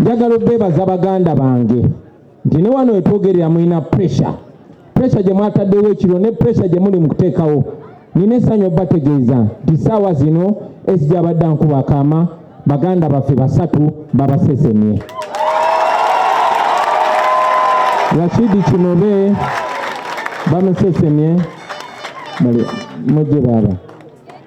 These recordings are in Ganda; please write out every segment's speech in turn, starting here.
njagala obeebaza baganda bange nti ne wano wetwogerera mulina pressure pressure gye mwataddewo ekiro ne pressure gye muli mu kuteekawo nina essanyu obategeeza nti saawa zino esija abadde ankuba akaama baganda baffe basatu babasesemye rashidi kinobe bamusesemye mujje baaba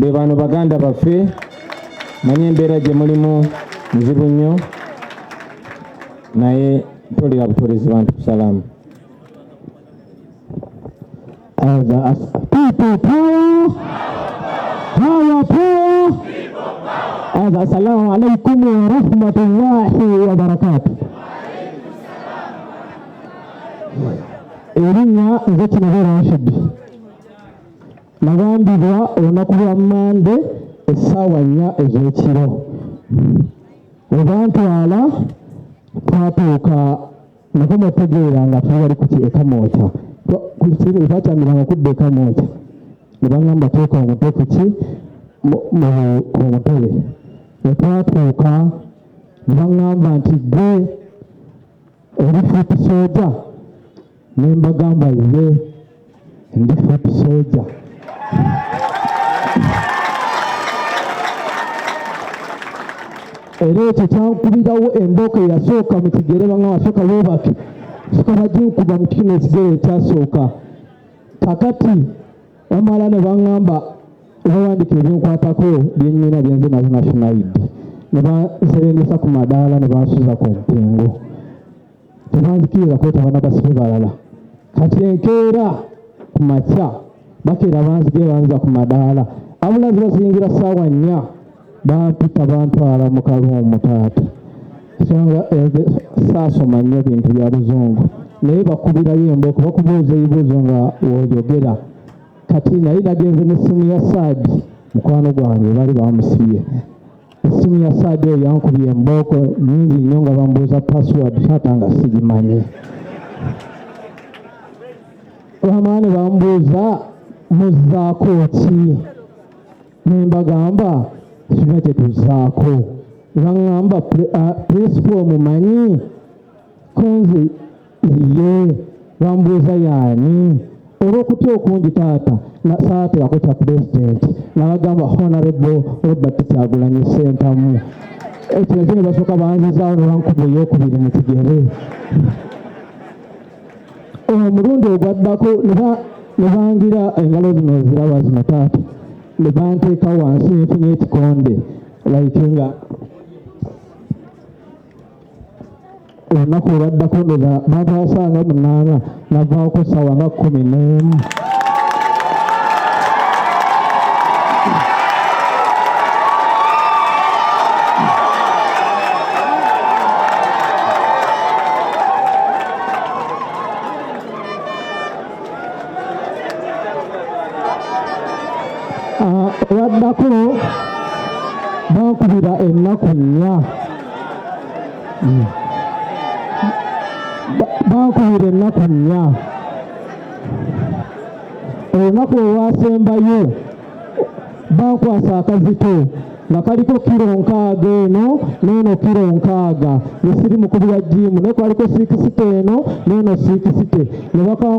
be bano baganda baffe manyi embeera gye mulimu nzibu nnyo naye tolera butorezi bantu kusalamu assalamu alaikum warahmatullahi wabarakatu erinnya nze kinabera nshiddi Nagambibwa olunaku lwa Mmande essaawa nnya ez'ekiro we bantwala twatuuka nako mwetegeera nga tuli bali ku ekamwokya batyamiranga kudda ekamwokya ne bangamba teeka omutwe kuki ku mutebe ne twatuuka ne bangamba nti gwe Ndi foot soja ne mbagamba ye ndi foot soja. Era ekyo kyankubirawo embooko eyasooka mu kigere banga wasooka weebake soka baginkuba mu kino ekigere ekyasooka kakati bamala ne baŋŋamba obawandiika ebinkwatako byennyina byenze nazo national id ne banserengesa ku madaala ne bansuza ku mpingo tebanzikiriza kwetaba na basibe balala kati enkeera ku makya bakeera banzige banza ku madaala abulazi bazingira ssaawa nnya bampita bantwala mu kaluumu taata songa saasoma nnyo bintu bya luzungu naye bakubirayo embooko bakubuuza ebibuuzo nga woyogera kati naye nagenze n'essimu ya saadi mukwano gwange bali bamusibye essimu ya saadi eyo yankubye embooko nyingi nnyo nga bambuuza password taata nga sigimanyi wamaani bambuuza muzzaako ki nembagamba sirina kyetuzaako nebaŋamba principal mumanyi kunze iye bambuuza yaani olw'okutya okungi taata saaterako kya pulezidenti nabagamba honarebo robert kyagulanyi sentamu ekyo nakyo ne basooka banzizaawo nebankuba eyokubiri mu kigere omulundi ogwaddako ne bangira engalo zino oziraba zino taata ne banteeka wansi nfunye ekikonde like nga olunaku olwaddako ndoza bataasanga munaana navaako sawa nga kumi n'emu waddako bankubira ennaku nnya hmm. bankubira ennaku nnya olunaku olwasembayo bankwasa akazito nga kaliko kiro nkaaga eno neeno kiro nkaaga nesiri mukubira jiimu naye kwaliko siikisite eno neeno siikisite ne bakankwasa